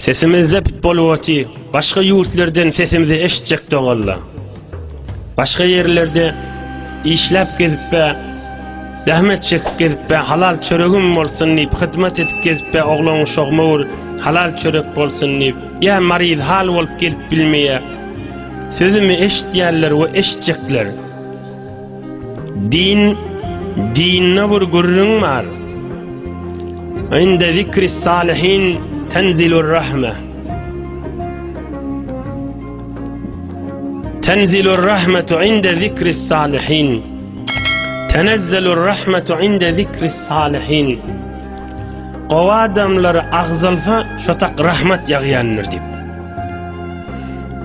Sesimiz zept bolwoti, başga ýurtlardan sesimizi eşitjek dogalla. Başga ýerlerde işläp gezipbe, zähmet çekip gezipbe, halal çöregim bolsun diýip, hyzmat edip gezipbe, oglan uşagym owur, halal çörek bolsun diýip, ýa maryz hal bolup gelip bilmeýä. Sözümi eşitýärler we eşitjekler. Din, dinne bir gürrüň bar. Inde zikri salihin tenzilur rahme. Tenzilur rahmetu inde zikri salihin. Tenezzelur rahmetu inde zikri salihin. Gowa adamlar agzalsa şotak rahmet ýagýandyr diýip.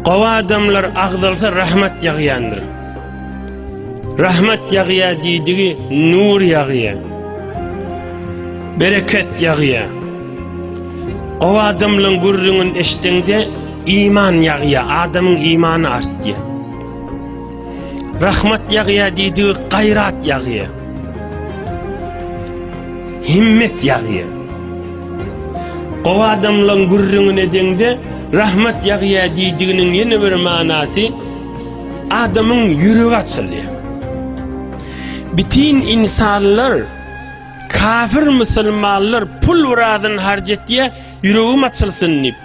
Gowa adamlar agzalsa rahmet ýagýandyr. Rahmet ýagýa diýdigi nur ýagýa. Bereket ýagýa. O adamlaryň gürrüňini eşdeňde iman ýagýa, adamyň imany artýa. Rahmet ýagýa diýdigi gaýrat ýagýa. Himmet ýagýa. O adamlaryň gürrüňini edeňde rahmet ýagýa diýdiginiň ýene bir manasy adamyň ýüregi açylýar. Bitin insanlar kafir musulmanlar pul wuradan harc etýär, ýüregim açylsyn diýip.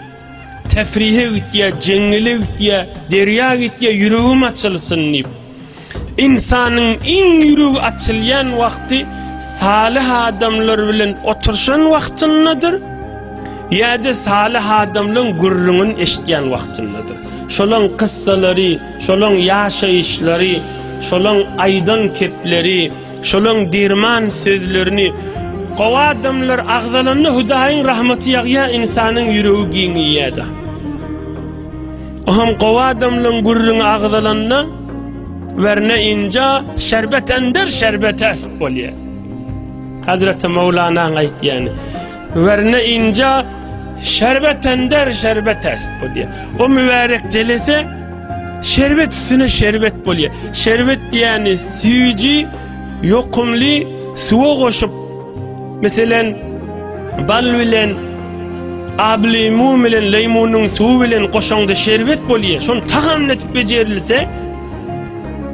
Tefrihe gitýär, jeňňele gitýär, derýa gitýär, ýüregim açylsyn diýip. Insanyň iň ýüregi açylýan wagty salih adamlar bilen oturşan wagtyndadyr. Ýa-da salyh adamlaryň gürrüňini eşitýän wagtyndadyr. Şolaryň kyssalary, şolaryň ýaşaýyşlary, şolaryň aýdan kepleri, şolaryň derman sözlerini Gowy adamlar agzalanda Hudaýyň rahmaty ýagýar, ynsanyň ýüregi giňeýär-de. Oňam gowy adamlaryň gürrüňi agzalanda werne inja şerbet ender şerbet äst bolýar. Hazreti Mowlanaň aýtýany. Werne inja şerbet tender şerbet est bolýar. O mübärek jelese şerbet üstüne şerbet bolýar. Şerbet diýeni süýji, ýokumly suwa goşup, meselen, bal bilen ablimu bilen leýmunyň suwy bilen goşaňda şerbet bolýar. Şony tagamly etip bejerilse,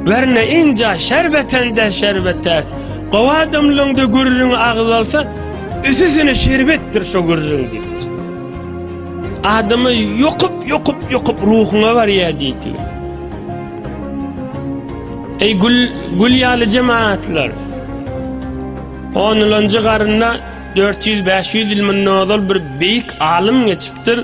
Werne inja şerbetende şerbetäs. Gowy adamlaňda gürrüň agyz alsa, üsüsine şerbetdir şo gürrüň diýipdir. Adamy ýokup, ýokup, ýokup ruhuňa barýar diýipdir. Eý gül, gül ýaly jemaatlar. Onulunjy garynda 400-500 ýyl mundan ozal bir beýik alym geçipdir.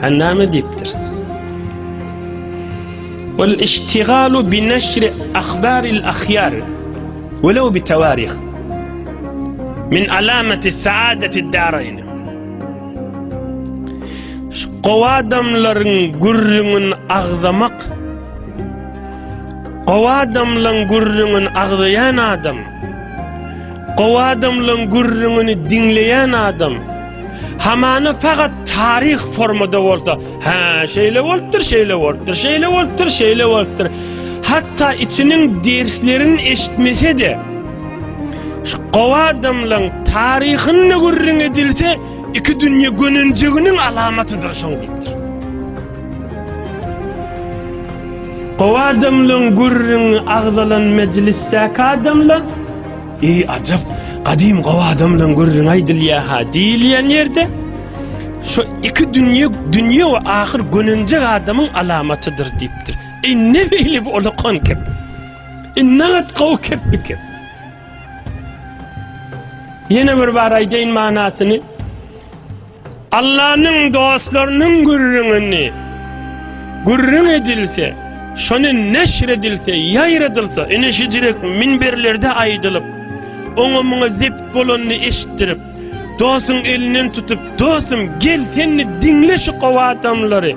Sen näme diýipdir? Ol iştigalu bi neşri ahbaril ahyar welew bi tawarih min alamati saadati darayn. Gowa adamlaryň gürrüňini agzamak Gowa adamlaryň gürrüňini agzaýan adam Gowa adamlaryň gürrüňini diňleýän adam Hamana fakat tarih formada bolsa, ha şeýle bolupdyr, şeýle bolupdyr, şeýle bolupdyr, şeýle bolupdyr. Hatta içiniň derslerini eşitmese de, şu gowa adamlaryň taryhyny gürrüň edilse, iki dünýä gönenjiginiň alamatydyr şoň diýipdir. Gowa adamlaryň gürrüňi agzalan mejlisdäki adamlar Eý, ajap, gadym gowy adamlaň gürrüňi aýdylýa-ha diýilýän ýerde, Şo iki dünýe, dünýe we ahyr gönenjek adamyň alamatydyr diýipdir. Eý, ne beýle bu ulakan kep? E, nagat gowy kep bu kep. Ýene bir bar aýdaýyn manasyny. Allanyň dostlarynyň gürrüňini gürrüň edilse, şony neşir edilse, ýaýradylsa, ine şu jürek minberlerde aýdylyp, oňa-muňa zebt bolanyny eşitdirip, dostuň elinden tutup, Dostum, gel, sen-de diňle şu gowy adamlary.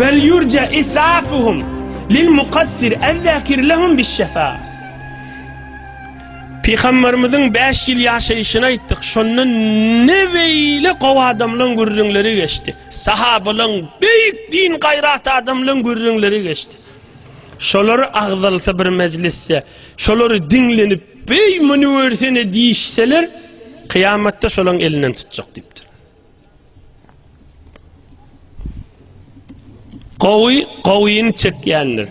Bel ýurja isafuhum lil mukassir ezzakir lehum bişşefa. Pygamberimiziň bäş ýyl ýaşaýşyny aýtdyk, şonda ne beýle gowy adamlaň gürrüňleri geçdi. Sahabalaň, beýik din gaýrat adamlaň gürrüňleri geçdi. Şolary agzalsa bir mejlisde, şolary diňlenip, beý muny görsene diýişseler, kyýamatda şolaň elinden tutjak diýipdir. Gowy gowyny çekýändir.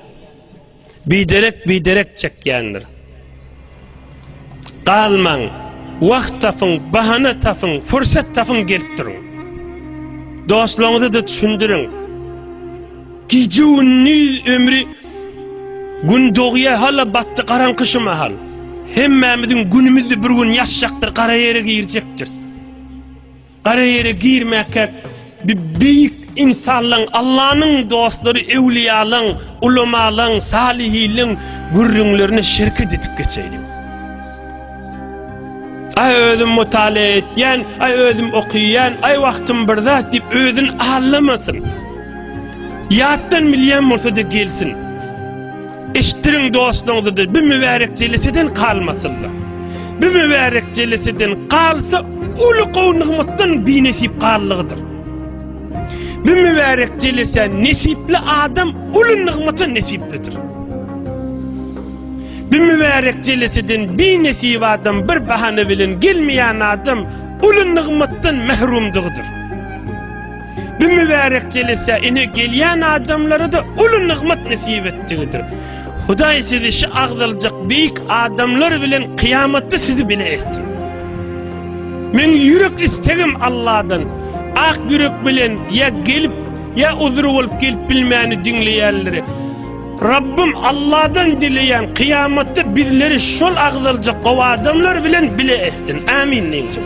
Biderek biderek çekýändir. Galmaň, wagt tapyň, bahana tapyň, pursat tapyň gelip duruň. Dostlaryňyza da düşündiriň. Gije gündiz ömri gün dogýa hala batdy garaňky şu mahal. Hemmämiziň günümizde bir gün ýaşjakdyr, gara ýere girjekdir. Gara ýere girmäkä bi beýik ynsanlaň, Allanyň dostlary, öwliýalaň, ulamalaň, salyhylyň gürrüňlerine şerket edip geçeýliň. Aý özüm mutalýa etýän, aý özüm okyýan, aý wagtym bir zat diýip özüni allamasyn. Ýatdan bilýän bolsa-da gelsin. Eşitdiriň dostlaryňyza-da, bu mübärek jeleseden galmasynlar. Bu mübärek jeleseden galsa, uly gowy nygmatdan binesip gallygydyr. Bu mübärek jelesä nesipli adam uly nygmata nesiplidir. Bu mübärek jeleseden binesip adam bir bahana bilen gelmeýän adam uly nygmatdan mährumdygydyr. Bu mübärek jelese ine gelýän adamlara-da uly nygmat nesip etdigidir. Hudaý sizi şu agzaljak beýik adamlar bilen kyýamatda sizi bile etsin. Meň ýürek istegim Alladan, ak ýürek bilen ýa gelip, ýa uzry bolup gelip bilmäni diňleýänleri Rabbym Alladan dileýän kyýamatda bizleri şol agzaljak gowy adamlar bilen bile etsin. Amin diýjek.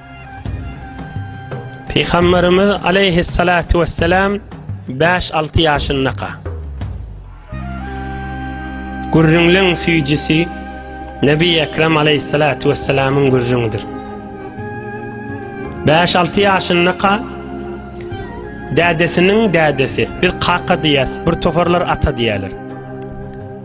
Pygamberimiz aleýhissalatu wessalam bäş-alty ýaşyndaka, gürrüňleň süýjüsi Nebi Ekrem aleýhissalatu wessalamyň gürrüňidir. Bäş-alty ýaşyndaka dädesiniň dädesi, biz kaka diýýäs, bir toparlar ata diýýärler.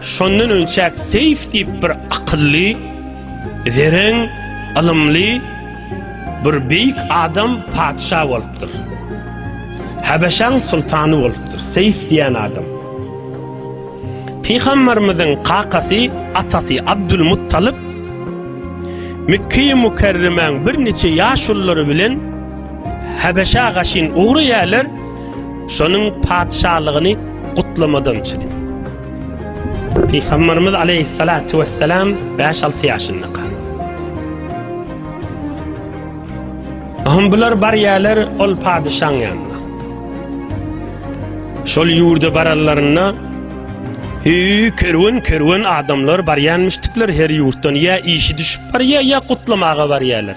Şondan önçäk Seýf diýip bir akylly, zeren, ylymly bir beýik adam patyşa bolupdyr. Habeşaň sultany bolupdyr Seýf diýen adam. Pygamberimiziň kakasy, atasy Abdul Muttalyp Mekkeýi Mukerremäň birniçe ýaşululary bilen Habeşa gaşyn ugraýarlar. Şonuň patyşalygyny gutlamadan çydy. Pygamberimiz aleyhissalatu vesselam 5-6 yaşynda kal. Aham bular bar yerler ol padişan yanına. Şol yurda barallarına Hü kerwen kerwen adamlar bar yanmıştıklar her yurttan ya işi düşüp bar ya ya kutlamağa bar yerler.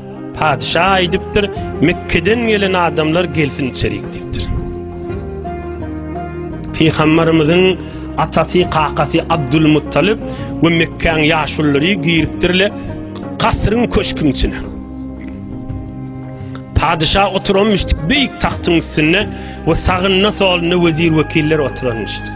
Patyşa aýdypdyr, Mekgeden gelen adamlar gelsin içerik diýipdir. Pygamberimiziň atasy, kakasy Abdul Muttalib we Mekkäň ýaşululary giripdirle kasryň köşküň içine. Patyşa oturanmyşdyk beýik tagtyň üstünde we sagynda solunda wezir wekiller oturanmyşdyk.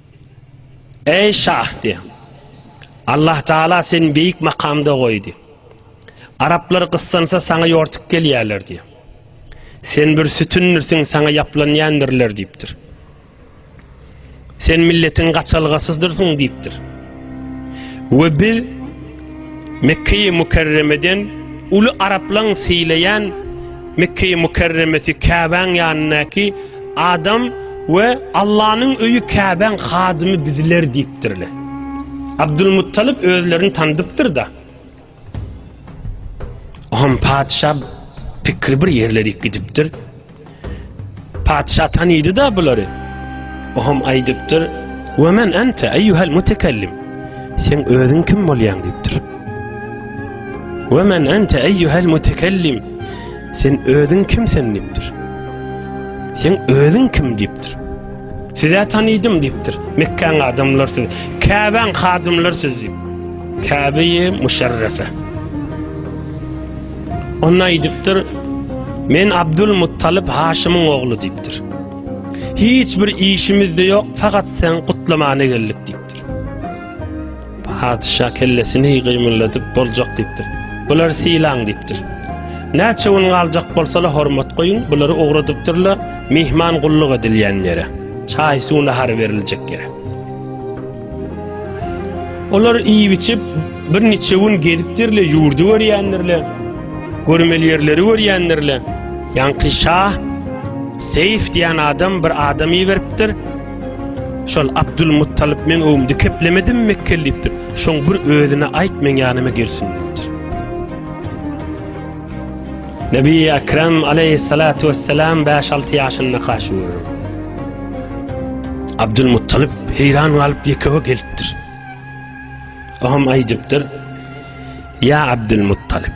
Eý Şahdy! Allah Taala seni beýik makamda goýdy. Araplar gyssansa saňa ýortup gelýärler diýip. Sen bir sütündirsiň saňa ýaplanýandirler diýipdir. Sen milletiň gaçalgasydyrsyn diýipdir. we biz Mekkeýi Mükerremeden uly araplaň sylaýan Mekkeýi Mükerremesi Käbäň ýanyndaky adam we Allanyň öýi Käbäň hadymy bizler diýipdirler. Abdulmuttalyp özlerini tanydypdyr-da. Oňam patyşa pikri bir ýerlerik gidipdir. Patyşa tanydy-da bulary. Oňam aýdypdyr, "We men ente eýýuhal mutekellim?" Sen özüň kim bolýaň diýipdir. "We men ente eýýuhal mutekellim?" Sen özüň kim sen diýipdir. Sen özüň kim diýipdir. Siz-ä tanydym, diýipdir. Mekgäň adamlary siz, Käbäň hadymlary siz, diýip. Käbe-i Müşerrefe. Onda aýdypdyr, Men Abdul Muttalyp Haşymyň ogly, diýipdir. Hiç bir işimiz-de ýok, fakat sen gutlamana geldik, diýipdir. Patyşa kellesini gymyldadyp boljak diýipdir. Bulary sylaň diýipdir. Näçe gün galjak bolsalar hormat goýuň, bulary ugradypdyrlar myhman gulluk edilýän ýere, çaý-suw nahary beriljek ýere. Olar iýip-içip birniçe gün gezipdirler, ýurdy görýändirler, görmeli ýerleri görýändirler. Ýaňky şa Seýf diýen adam bir adam iberipdir. Şol Abdulmuttalyp meň öwümde keplemedimi Mekgeli diýipdir. Şoň bir özüne aýt meň ýanyma gelsin diýipdir. Nebi Ekrem aleýhissalatu wessalam bäş-alty ýaşyndaka şu görüň. Abdulmuttalyp heýran galyp ýekewe gelipdir. Oňam aýdypdyr. Ýa Abdulmuttalyp.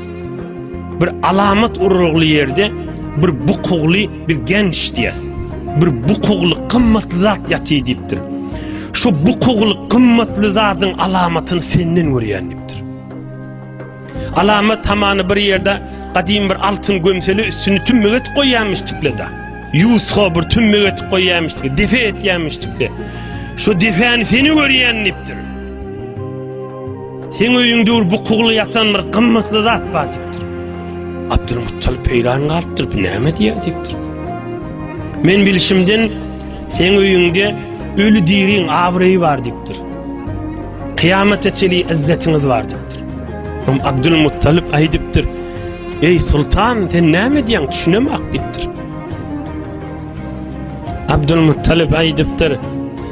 Bir alamat urugly ýerde bir bukugly bir genç diýýäs. Bir bukugly gymmatly zat ýaty diýipdir. Şu bukugly gymmatly zadyň alamatyny senden görýän diýipdir. Alamat hamany bir ýerde gadymy bir altyn gömseli üstüni tümmek etip goýýanmyş tiplede. Ýusga bir tümmek etip goýýanmyş tiplede, defe etýänmiş tiplede. Şu defäni seni görýän diýipdir. Seň öýüň döwür bu kugla ýatan bir gymmatly zat bar diýipdir. Abdulmuttalip heýran galypdyr, bu näme diýýär diýipdir. Men bilişimden seň öýüňde öli diriň abraýy bar diýipdir. Kyýamata çeli izzetiňiz bar diýipdir. Hom Abdulmuttalip aýdypdyr. Eý sultan, sen näme diýýäň, düşünemak diýipdir. Abdulmuttalip aýdypdyr.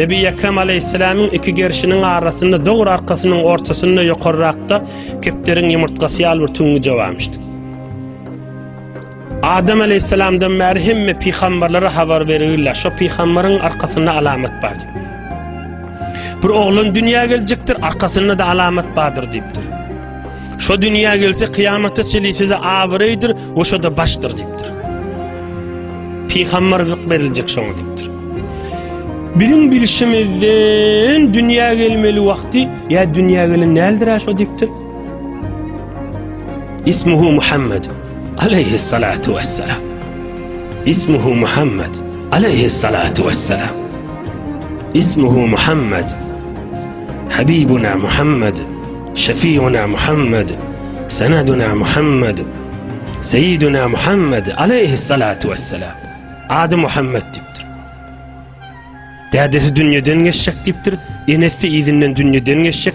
Nebi Ekrem aleýhissalamyň iki gerşiniň arasynda dogry arkasynyň ortasynda ýokarrakda kepderiň ýumurtgasy ýaly bir tüňňi jogamyşdy. Adam aleýhissalamdan bäri hemme pygamberlere habar berilýär. Şo pygamberyň arkasynda alamat bardy. Bir oglan dünýä geljekdir, arkasynda-da alamat bardyr diýipdir. Şo dünýä gelse kyýamatda çelisize abraýdyr we şoda başdyr diýipdir. Pygamberlik beriljek şoňa diýipdir. Biziň bilşimizden dünýä gelmeli wagty ýa dünýä gelen näldir şo diýipdir. Ismuhu Muhammed aleyhi salatu vesselam. Ismuhu Muhammed aleyhi salatu vesselam. Ismuhu Muhammed Habibuna Muhammed Şefiuna Muhammed, Seneduna Muhammed, Seyyiduna Muhammed, Aleyhissalatu Vesselam. Ady Muhammed dipdir. Dädesi dünýeden geçjek dipdir, enesi izinden dünýeden geçjek,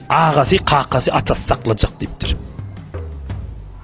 agasy, kakasy, atasy saklajak dipdir.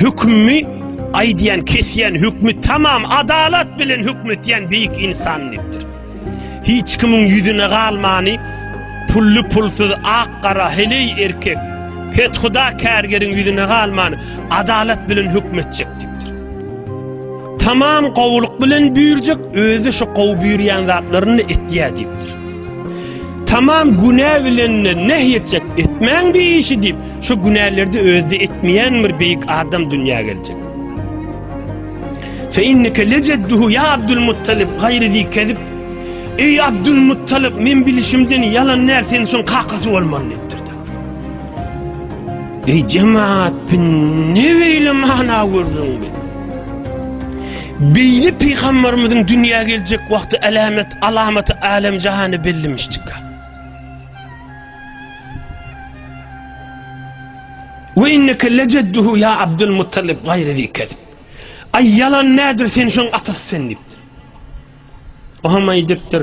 Hükümmi aýdýan, kesýän hükmi tamam adalat bilen hüküm etýän beýik insan dipdir. Hiç kimiň ýüzüne galmany pully pulsuz ak gara heleý erkek kethuda kärgeriň ýüzüne galmany adalat bilen hüküm etjek dipdir. Tamam gowulyk bilen büýürjek özi şu gowy büýürýän zatlaryny etýär dipdir. Tamam günä bilenine näh ýetjek, etmäň bir işi diýip, şu günälerde özde etmeýän bir beýik adam dünýä geljek. Fe inneke lejedduhu ya Abdul Muttalib gaýry zi kezib. Eý Abdul Muttalib, men bilişimden ýalan näl sen şoň kakasy bolmaly diýipdir. Eý jemaat, ne beýle mana görüň Beýle pygamberimiziň dünýä geljek wagty alamet alamaty alem jahany bellemişdika. Ve inneke lecedduhu ya Abdul Muttalib gayri zikez. Ay yalan nedir sen şoň atasy sen dipdir. Oha may dipdir.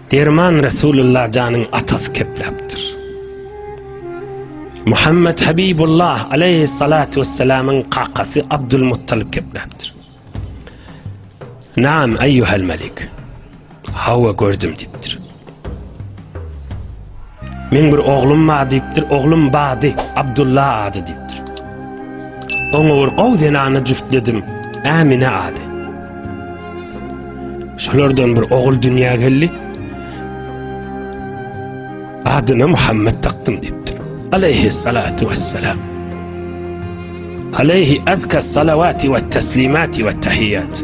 Derman Resulullah janyň atasy kepläpdir. Muhammed Habibullah aleyhi salatu vesselamyň kakasy Abdul Muttalib kepläpdir. Naam eyyuhel melik. Hawa gördüm dipdir. Meň bir oglum bar diýipdir, oglum Bady, Abdulla ady diýipdir. Oňa bir gowy zenany jüftledim, Ämine ady. Şolardan bir ogul dünýä geldi. Adyna Muhammed takdym diýipdir. Aleyhi salatu vesselam. Aleyhi azka salavati ve teslimati ve tahiyyat.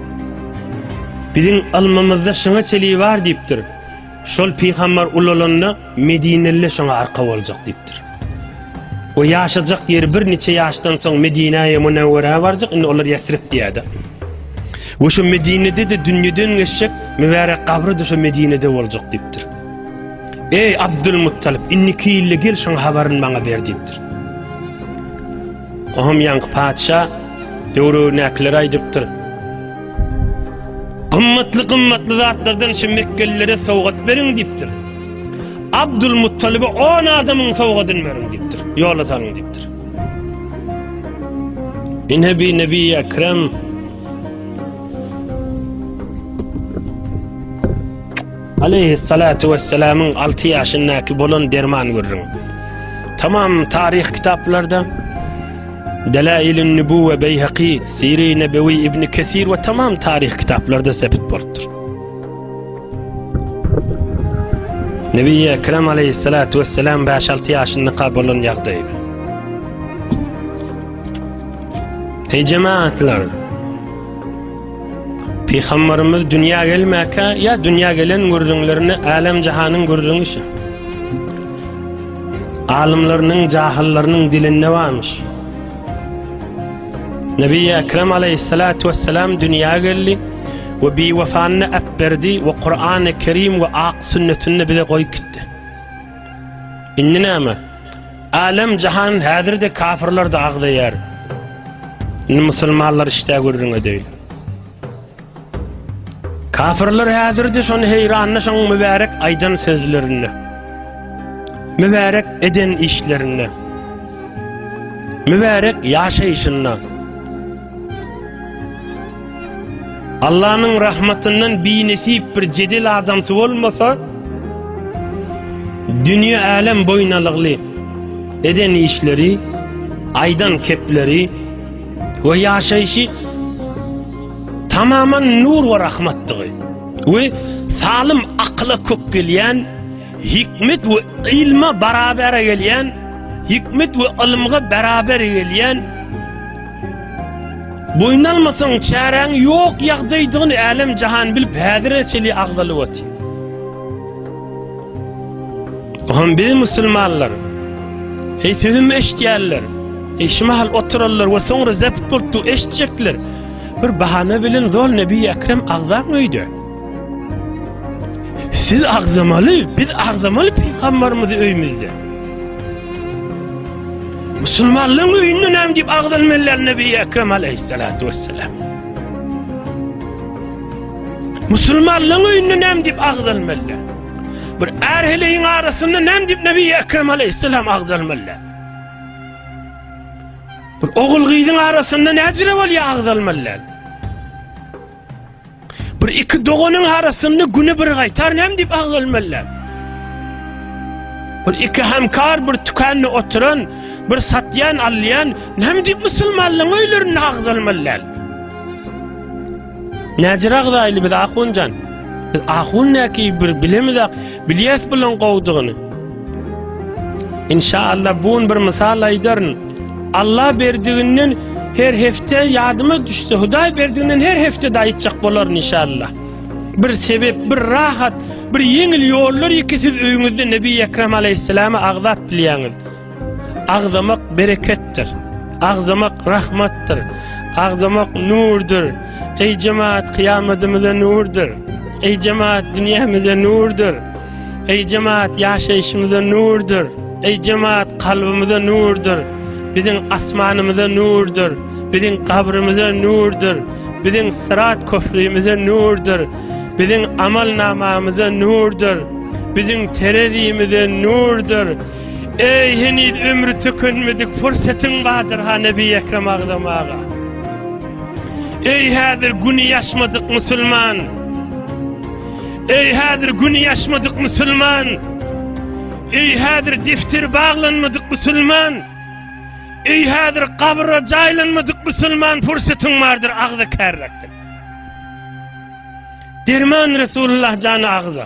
Biziň ylmymyzda şyňa çeligi bar diýipdir. Şol pygambar ulalanda medineliler şoňa arka boljak diýipdir. We ýaşajak ýeri bir niçe ýaşdan soň Medinäýe Munewwerä barjak, indi olar Ýesrib diýýärdi. We şu Medinede de dünýeden geçjek mübärek gabry da şu Medinede boljak diýipdir. Eý Abdul Muttalib, indiki ýylda gel şoň habaryny maňa ber diýipdir. Oham ýaňky patyşa döwrebinäkileri aýdypdyr. Gymmatly gymmatly zatlardan şu mekgelilere sowgat beriň diýipdir. Abdul Muttalibe 10 adamyň sowgadyny beriň diýipdir. Ýola salyň diýipdir. Inhebi Nebi Ekrem Aleýhissalatu wessalamyň alty ýaşyndaky bolan derman gürrüň. Tamam taryh kitaplarda Delailin Nübüwwe Beýhaki, Siri Nebewi Ibn Kesir we tamam taryh kitaplarda sebit bolupdyr. Nebi Ekrem aleyhissalatu vesselam 5-6 yaşında kabolun yagdaydı. Ey cemaatlar! Pygambarymyz dünýä gelmäkä ýa dünýä gelen gürrüňlerini älem-jahanyň gürrüňi şi. Alymlarynyň, jahyllarynyň dilinde barmyş. Nebi Ekrem aleýhissalatu wessalam dünýä geldi we biwefanyny äpberdi we Kurany Kerim we ak sünnetini bize goýup gitdi. Indi näme? Älem jahan häzirde kafirler de agzaýar. Indi musulmanlar işde gürrüň edeýin. Kafirler häzirde şony heýranly şoň mübärek aýdan sözlerinde. Mübärek eden işlerinde. Mübärek ýaşaýşynda. Allanyň rahmatyndan binesip bir jedel adamsy bolmasa, dünýe-älem boýunalygly eden işleri, aýdan kepleri we ýaşaýşy tamaman nur we rahmatdygy we salym akyla kök gelýän, hikmet we ylma barabar gelýän, hikmet we ylymga barabar gelýän, Boýun almasaň, çäräň ýok ýagdaýdygyny älem-jahan bilip, häzire çenli agzalyp otyr. Ohm biz musulmanlar. Eý sözüm eşitýänler. Eý şu mahal oturanlar we soňra zepit bolupdygy eşitjekler. Bir bahana bilen zol Nebi Ekrem agzam öýde. Siz agzamaly, biz agzamaly peýgamberimizi öýmüzde. Musulmanlaryň öýünde näme diýip agzalmalylar Nebi Ekrem aleyhissalatu vesselam. Musulmanlaryň öýünde näme diýip agzalmalylar? Bir ärheleýin arasynda näme diýip Nebi Ekrem aleyhissalam agzalmalylar? Bir ogul gyzyň arasynda näjire bolýar agzalmalylar? Bir iki doganyň arasynda güni bir gaýtar näme diýip agzalmalylar. Bir iki hemkar bir tükende oturan, bir satýan, alýan näme diýip musulmanlaryň öýlerinde agzalmalylar. Näjir agzaýly biz ahunjan. Biz ahun näki bir bilemiz ak, bilýäs bilen gowdygyny. Inşallah bun bir mysal aýdaryn. Allah berdiginden her hepde ýadyma düşse, Hudaý berdiginden her hepde de aýtjak bolaryn inşallah. Bir sebep, bir rahat, bir ýeňil ýollar ýeke siz öýüňizde Nebi Ekrem aleyhisselama agzap bilýäňiz. Agzamak bereketdir. Agzamak rahmatdyr. Agzamak nurdur. Eý jemaat, kyýamadymyza nurdur. Eý jemaat, dünýämize nurdur. Eý jemaat ýaşaýşymyza nurdyr, eý jemaat kalbymyza nurdyr, biziň asmanymyza nurdyr, biziň gabrymyza nurdyr, biziň syrat köprümize nurdyr, biziň amal namamyza nurdyr, biziň terezimize nurdyr. Eý heniz ömri tükenmedik pursatyň bardyr ha Nebi Ekrem agzam aga. Eý häzir güni ýaşmadyk musulman. Eý häzir güni ýaşmadyk musulman! Eý häzir defteri baglanmadyk musulman! Eý häzir gabra jaýlanmadyk musulman pursatyň bardyr agza kärräkdir. Derman Resulullah jany agza.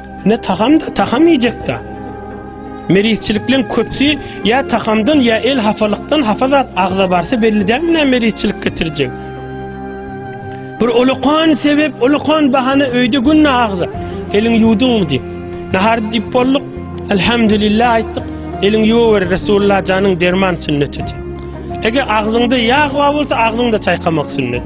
Ne tagam da tagam iýjek da. Merizçilikleň köpsi ýa tagamdan ýa el hapalykdan hapa zat agza barsa belli dälmi nä merizçilik getirjek. Bir ulakan sebep, ulakan bahana öýde günde agza. Eliň ýuwduňmy diýip. Nahar diýip bolduk. Elhamdülillah aýtdyk. Eliň ýuwaber Resulullah janyň derman sünneti. Eger agzyňda ýag bar bolsa agzyňda çaýkamak sünnet.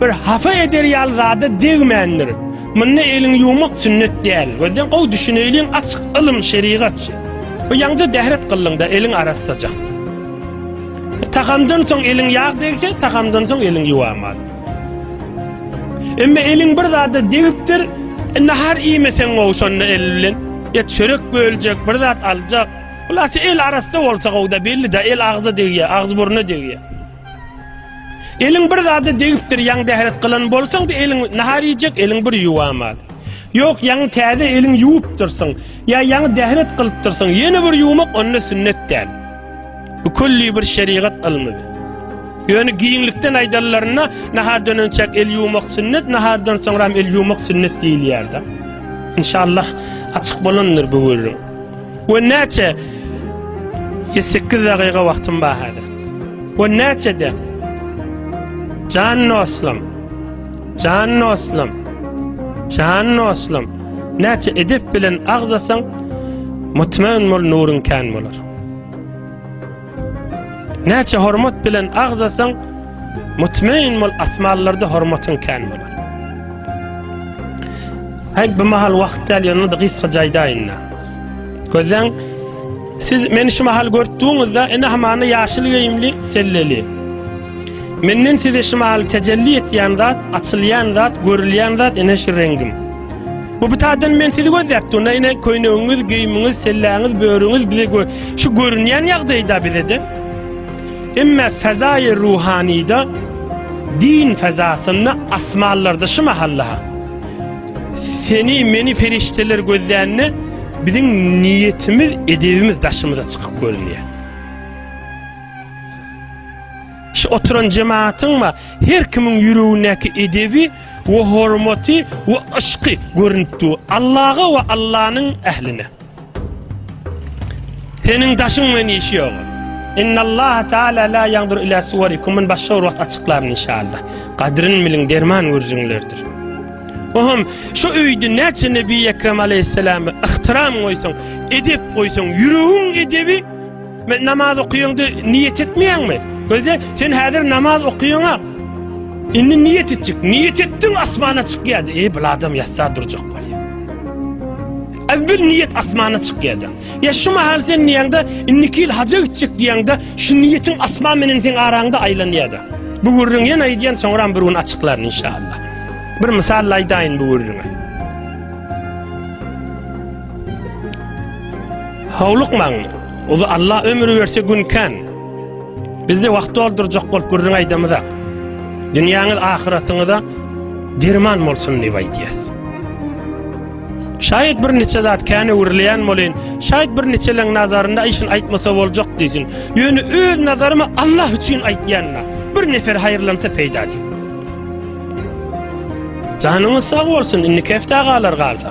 Bir hafa eder ýaly zada degmändir. Munda elini ýuwmak sünnet däl. Gözden gowy düşüneýliň açyk ylym şerigat. Bu ýaňja dähret gyllyňda eliň arassaja. Tagamdan soň eliň ýag degse, tagamdan soň eliň ýuwaman. Emma eliň bir zada degipdir, nahar iýmeseň gowy şonda el bilen. Ýa çörek böljek, bir zat aljak. Hulasy el arassa bolsa gowy-da belli-de el agza degýär, agzy burna degýär. Eliň bir zada degipdir, ýaňy dähret gylan bolsaň-da, eliň nahar iýjek eliň bir ýuwamaly. Ýok, ýaňy täze eliň ýuwupdyrsyň, ýa ýaňy dähret gylypdyrsyň, ýene bir ýuwmak onda sünnet däl. Bu külli bir şerigat ylmydy. Ýöne giňlikden aýdanlarynda, nahardan önçäk el ýuwmak sünnet, nahardan soňram el ýuwmak sünnet diýilýärdi. Inşallah, açyk bolandyr bu gürrüň. We näçe? Ýe 8 dagyga wagtym bar häzir. We näçe de? Jan dostum. Jan dostum. Jan dostum. Näçe edep bilen agzasaň, mutmaýyn bol nuryň kän bolar. Näçe hormat bilen agzasaň, mutmain bol asmanlarda hormatyň kän bolar. Haý bu mahal wagt däl ýöne de gysga jaýdaýyn. Gözden siz meni şu mahal görtdüňizde ene hamana ýaşyl geýimli selleli. Menden size şu mahal tejelli etýän zat, açylýan zat, görülýän zat ene şu rengim. Bu bitadan men sizi gözläp durna ine köýnegiňiz, geýimiňiz, selläňiz, börüňiz bize gö şu görünýän ýagdaýda bizede. Emme fezaýy ruhanyda din fezasynda asmanlarda şu mahalla seni meni perişdeler gözlände biziň niýetimiz, edebimiz daşymyza çykyp görünýär. Şu oturan jemaatyň we her kimiň ýüregindäki edebi we hormaty we yşky görünip dur. Allaga we Allanyň ähline. Seniň daşyň bilen işi ýok. Innallaha taala la ýandur ila suwarikum men başga bir wagt açyklaryn inşallah. Gadryn biliň derman görjüňlerdir. Ohum, şu öýde näçe Nebi Ekrem aleyhisselam ihtiram goýsaň, edep goýsaň, ýüregiň edebi Men namaz okuýaňdy, niýet etmeýäňmi? Gözde, sen häzir namaz okuýaňa. Indi niýet etjek. Niýet etdiň, asmana çykýardy. Eý, bu adam ýatsa durjak bolýar. Äwwel niýet asmana çykýardy. Ya şu mahal sen niýeňde indiki ýyl haja gitjek diýeňde şu niýetiň asman menen sen araňda aýlanýardy. Bu gürrüň ýene aýdýan soňra bir gün açyklar inşallah. Bir mysal aýdaýyn bu gürrüňe. Howlukmaň, uly Alla ömür berse gün kän. Bizde wagt doldurjak bolup gürrüň aýdamyza. Dünýäňiz ahyratyňyza derman bolsun diýip aýdýas. Şaýat bir niçe zat kän öwrülýän bolýan. Şaýat bir niçeleň nazarynda işin aýtmasa boljak diýsin. Ýöne öz nazarymy Allah üçin aýtýanna. Bir nefer haýyrlansa peýda diýip. Janyňyz sag bolsun, indi kefte agalar galsa.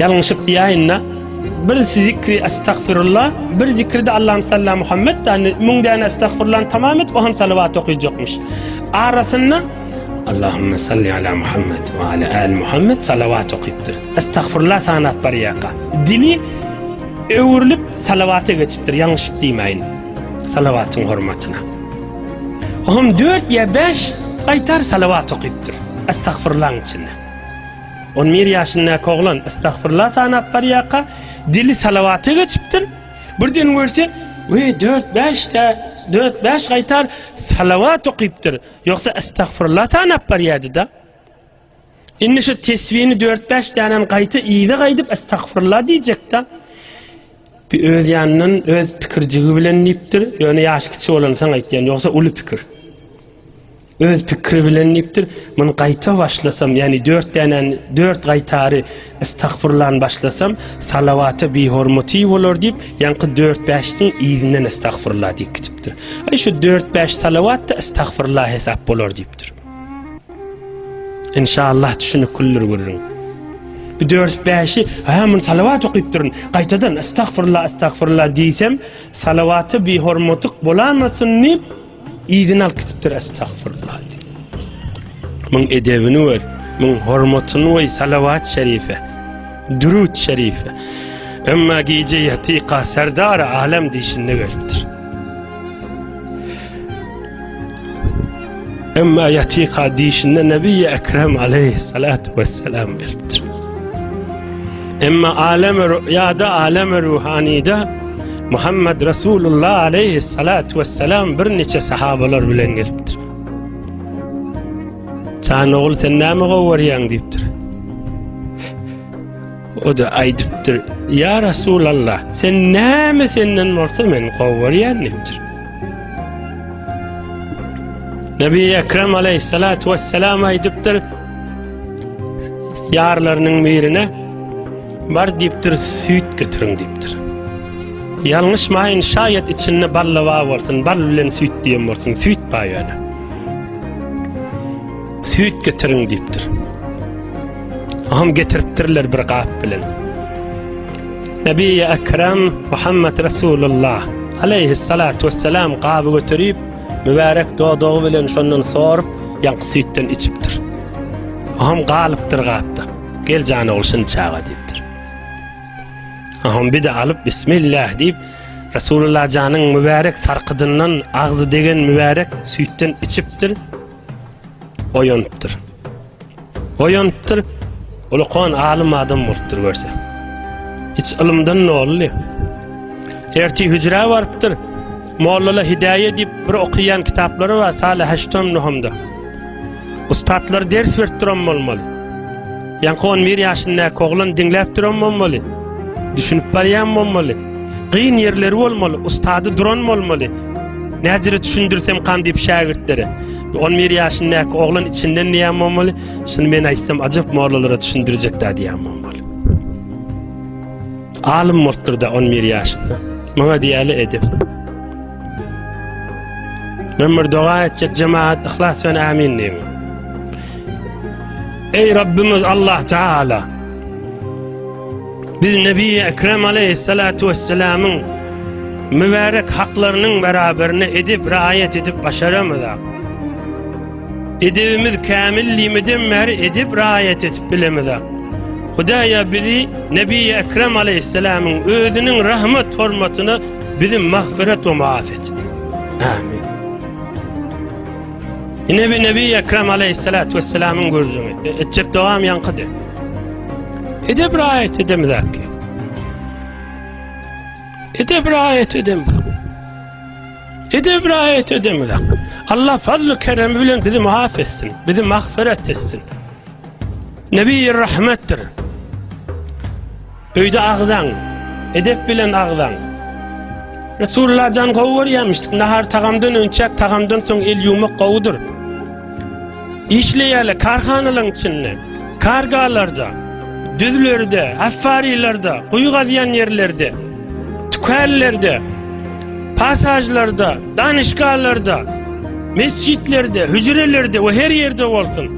Ýalňyşyp diýäýinda, bir zikri Estagfirulla, bir zikri-de Allahümme salli Muhammed dändi, müň däne Estagfirullany tamam edip, o hem salawat okyjakmyş. Arasynda Allahümme salli ala Muhammed we ala al Muhammed salawat okypdyr. Estagfirulla sanap barýaka. Dili öwrülip salawata geçipdir, ýalňyşyp diýmäýin. Salawatyň hormatyna. O hem dört ýa bäş gaýtar salawat okypdyr. Estagfirullaň içinde. On bir ýaşyndaky oglan estagfyrla sanap barýarka, dili salawata geçipdir. Birden görse, we dört-bäş-de, dört-bäş gaýtar salawat okypdyr. Ýogsa estagfyrla sanap barýardy-da. Indi şu tesbini dört-bäş dänäni gaýta yza gaýdyp estagfyrla diýjek-de. Bir öz ýanyndan, öz pikirjigi bilen diýipdir. Ýöne ýaşy kiçi bolansoň aýtýan, ýogsa uly pikir. Öz pikiri bilen diýipdir, Muny gaýta başlasam, ýagny dört dänäni, dört gaýtary estagfurullan başlasam, salawata bihormaty bolar diýip, ýaňky dört-bäşdiň yzyndan estagfurulla diýip gidipdir. Aý, şu dört-bäş salawat-da estagfurulla hesap bolar diýipdir. Inşallah düşüniklidir gürrüň. Bu dört-bäşi, ha, muny salawat okyp durun, gaýtadan estagfurulla, estagfurulla diýsem, salawata bihormatyk bolamasyn diýip, Yzyny alyp gitipdir estagfurullah diýip. Muň edebini gör, muň hormatyny goý salawat şerife, dürut şerife. Emma gije ýatyka serdar alem diýşinde gelipdir. Emma ýatyka diýşinde Nebi Ekrem aleyhissalatu vesselam gelipdir. Emma alem rüýada, alem ruhanida Muhammed Resulullah aleyhi salatu ve selam bir niçe sahabalar bilen gelipdir. Çan oğul sen nâme govaryan deyiptir. O da aydıptır. Ya Resulallah sen nâme senden varsa men govaryan deyiptir. Nebi Ekrem aleyhi salatu ve selam aydıptır. Yarlarının birine Bar diýipdir, süýt getiriň diýipdir. Ýalňyşmaýyn, şaýat içinde balla bar bolsun, bal bilen süýt diýen bolsun, süýt bar ýöne. Süýt getiriň diýipdir. Oňam getiripdirler bir gap bilen. Nebi Ekrem Muhammed Resulullah aleyhi salatu vesselam gaby göterip, mübarek dodagy bilen şondan sorup, ýaňky süýtden içipdir. Oňam galypdyr gapda. Gel jan ogul şindi çaga diýipdir. Aham bir de alyp bismillah diýip Resulullah janyň mübärek sarkydyndan agzy degen mübärek süýtden içipdir. Oýanypdyr. Oýanypdyr. Ulukan alym adam bolupdyr görse. Hiç ylymdan nolly. Erti hüjrä barypdyr. Mollala Hidaýa diýip bir okaýan kitaplary bar Salih Haşton Nuhumda. Ustatlar ders berip duran bolmaly. Ýaňky 11 ýaşyndaky oglan diňläp duran bolmaly. Düşünip barýan bolmaly. Gyn ýerleri bolmaly, ustady duran bolmaly. Näjire düşündirsem kan diýip şägirtlere. 11 ýaşyndaky oglan içinden diýen bolmaly. Şuny men aýtsam ajap mollalara düşündirjek-dä diýen bolmaly. Alym bolupdyr da 11 ýaşynda. Maňa diýeli edip. Men bir doga etjek jemaat ihlas bilen amin diýin. Ey Rabbimiz Allah Taala. Biz Nebi Ekrem Aleyhissalatu vesselamyň mübarek haklarynyň beraberine edip raýat edip başaramyzak. Edebimiz kämil limeden bäri edep raýat etip bilemizak. Hudaýa bizi Nebi Ekrem Aleýhisselamyň özüniň rahmet hormatyna bizi magfyrat we maaf et. Amin. Ine bi Nebi Ekrem Aleýhisselat we Selamyň gürrüňi. E, etjek dogam ýaňkydy. Edep raýat edemizak. Edep raýat edem. Edep raýat edem. Allah fazl-ı kerem bilen bizi maaf etsin. Bizi mahferet etsin. Nebi-i rahmettir. Öyde ağzan. Edep bilen ağzan. Resulullah can govu görýärmişdik. Nahar tagamdan önçek, tagamdan soň el ýumak gowudyr. Işleýärler karhanalaryň içinde, kargalarda, düzlerde, affarilerde, guýy gazýan ýerlerde, tükänlerde, pasažlarda, danyşgalarda, mesjitlerde, hüjrelerde we her ýerde bolsun.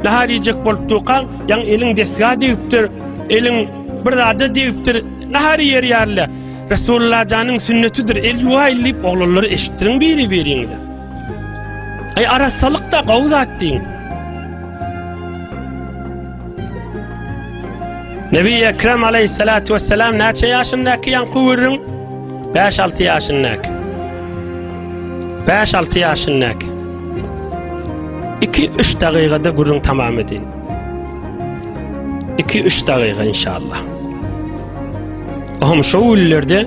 Nahar iýjek bolup durkaň, ýaň eliň desga degipdir, eliň bir zada degipdir, nahar iýer ýaly. Resulullah janyň sünnetidir, el ýuwaýyl diýip oglanlara eşitdiriň biri-biriňize. Ay arassalyk da gowy zat diýiň. Nebi Ekrem aleyhissalatu vesselam näçe ýaşyndaky ýaňky görüň? 5-6 ýaşyndaky. 5-6 ýaşyndaky. 2-3 dagygada gürrüň tamam edin. 2-3 dagyga inşallah. Ohm şu günlerde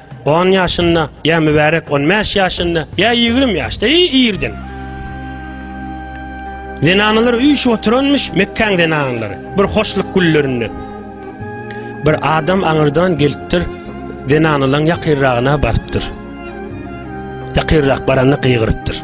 On ýaşynda, ýa mübärek on bäş ýaşynda, ýa ýigrimi ýaşda, eý, irden. Zenanalary üýşüp oturanmyş Mekgäň zenanalary, bir hoşluk güllerinde. Bir adam aňyrdan gelipdir, zenanalaň ýakyrragyna barypdyr. Ýakyrrak baranda gygyrypdyr.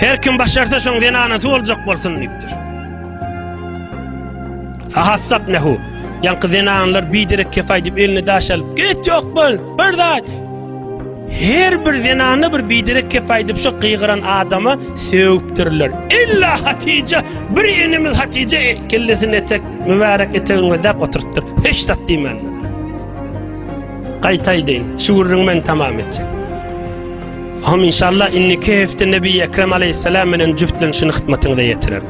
Her kim başarsa şoň zenanasy boljak bolsun diýipdir. Fahassap nehu. Ýaňky zenanlar biderek kefaý diýip elini daş alyp, "Git ýok bol, bir zat." Her bir zenana bir biderek kefaý diýip şu gygyran adama sögüpdirler. Illa Hatije, bir enemiz Hatije e, kellesini etek, mübärek etegiňe däp oturtdyr. Hiç zat diýmänler. Gaýtaýdy, şu gürrüňi men tamam etjek. Hom inşallah inniki hefte Nebi Ekrem aleyhisselam bilen jüftlenişini hytmatyňyza ýetirer.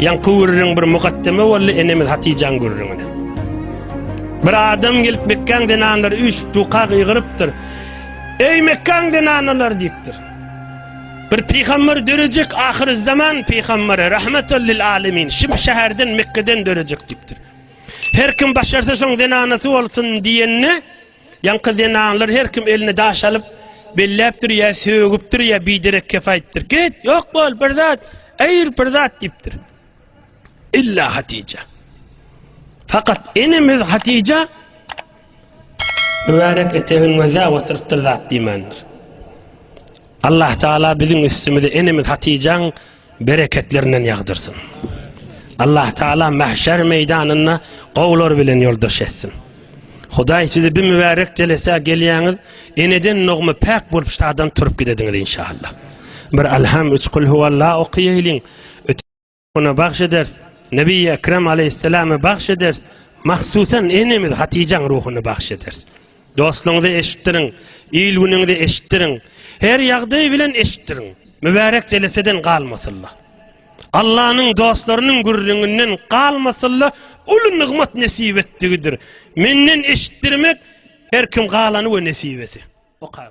Ýaňky gürrüň bir mukaddeme boldy enemiz Hatijaň gürrüňine. Bir adam gelip Mekkaň zenanlary üç duka gygyrypdyr. Eý Mekkaň zenanlar diýipdir. Bir pygamber dörejek ahyr zaman pygamberi rahmetel lil alemin şim şäherden Mekkaden dörejek diýipdir. Her kim başarsa şoň zenanasy bolsun diýende Ýaňky zenanlar her kim eline daş alyp, belläpdir ýa sögüpdir ýa biderek kef aýdypdyr. Git, ýok bol, bir zat, aýyr, bir zat diýipdir. Illa Hatyja. Fakat enemiz Hatyja mübärek etegini gözläp oturypdyr, zat diýmändir. Allah Taala biziň üstümize enemiz Hatyjaň bereketlerinden ýagdyrsyn. Allah Taala mahşer meýdanynda gowular bilen ýoldaş etsin. Hudaý sizi bir mübärek jelesä gelýäňiz, eneden dogma päk bolup şadan turup gidediňiz inşallah. Bir alham üç kul huwalla okaýaýlyň. Ötüne bagş eders. Nebi Ekrem aleyhisselama bagş eders. Mahsusan enemiz Hatijaň ruhuny bagş eders. Dostlaryňyza eşitdiriň, il günüňize eşitdiriň. Her ýagdaý bilen eşitdiriň. Mübärek jeleseden galmasylla. Allanyň dostlarynyň gürrüňinden galmasylla uly nygmat nesip etdigidir. Menden eşitdirmek her kim galany we nesibesi. Oka.